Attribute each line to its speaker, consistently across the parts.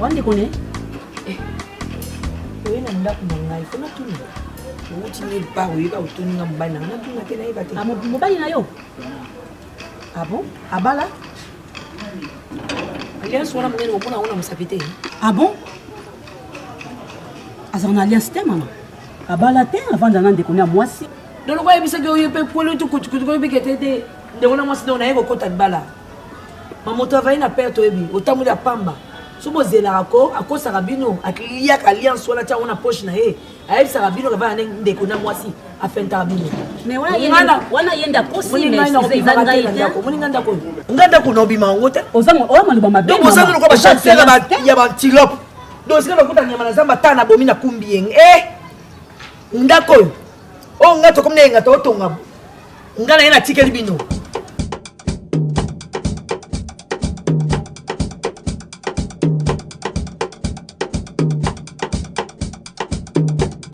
Speaker 1: Wande kone eh, oye na ndako na ngai fo natuna outi mille par oyeba otuni nga mobali na nga natuna te nayeba te ah, mobali na yo abo ah abala alliance wana monene omona yango na mosapi te abo ah azala na alliance te mama abala te avanda na ndeko na mwasi doloko ayebisaki oyo mpe kweli oyo tokutukutukoyebikete te ndeko na mwasi ndeko naye kokota libala mamoto avali na perte oyebi otamboli ya pamba so bozelaka ko akosaka bino aliaka alliance wana tiango na poche na ye ayebisaka bino kavana nde ndeko na mwasi afentaka bino moninga ndako oyo nga ndako na obima yango te bozangi lokola bachasera ya bantilope dosika lokuta nyama na zamba ata na bomi na kumbi yenge e eh! ndako oyo oyo oh, nga tokomi na yenga totonga nga na ye natikeli bino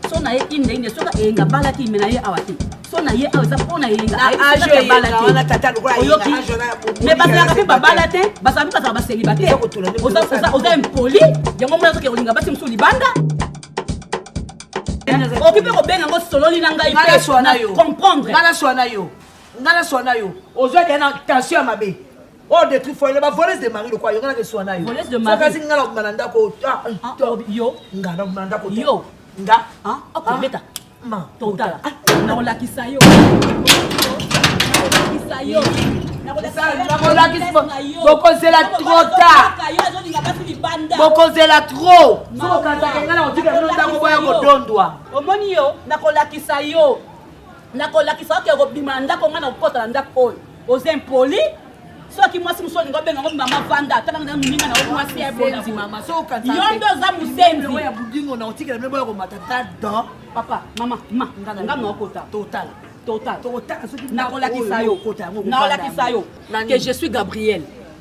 Speaker 1: so na ye indeinde soki eyenga balaki me na ye awa te so
Speaker 2: na ye awa eza mpo na eyenga oyoki me bazalaka mpe babala te bazala mpe bazala baseliba te oza impoli yango mona azoke kolinga basi mosusu libanda okoki mpe kobenga yango sololi na ngai comprendre nga naswa na yo
Speaker 3: nga naswa na yo ozwa deya na tension ya mabe oyo oh, detruit foyele bavoleuse de mari lokwa yo nga nakeswa na yo sokasi nga nakobima
Speaker 2: na ndako
Speaker 3: ah, ah, ah, yo
Speaker 2: nga nakobima na ndako
Speaker 3: yo nga akobeta totala nakolakisa yo
Speaker 2: nakolakisa yo
Speaker 3: bokozela trop tard bokozela trop soki okanisaka ngai nakotika bino ntango boya kodondwa omoni yo
Speaker 2: nakolakisa yo nakolakisa oke kobima na ndako ngai nakokota na ndako oyo oza impoli soki mwasi mosusu olingi obenga ngo mama vanda atanga na moninga na yo mwasi ya ebonzi mama yo nde oza mosenzi ya budingo na otikela
Speaker 3: mpe boya komata ta dan papa mama
Speaker 2: ma nga naokota totala
Speaker 3: totala nakolakisa
Speaker 2: yo nakolakisa yo que je suis gabriel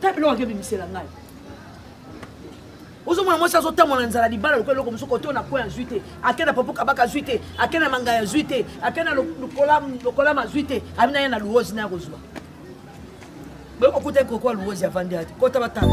Speaker 3: ta biloko ake bimisela ngai ozomona mwasi azotambola na nzala libala lokola eloko mosuku oto na koi azwi te ake na popo kabaka azwi te ake na mangai azwi te ake na lokolama azwi te abi na ye na luozi na ya kozwa boye kokuta ekokoa luozi avandi ate kota batala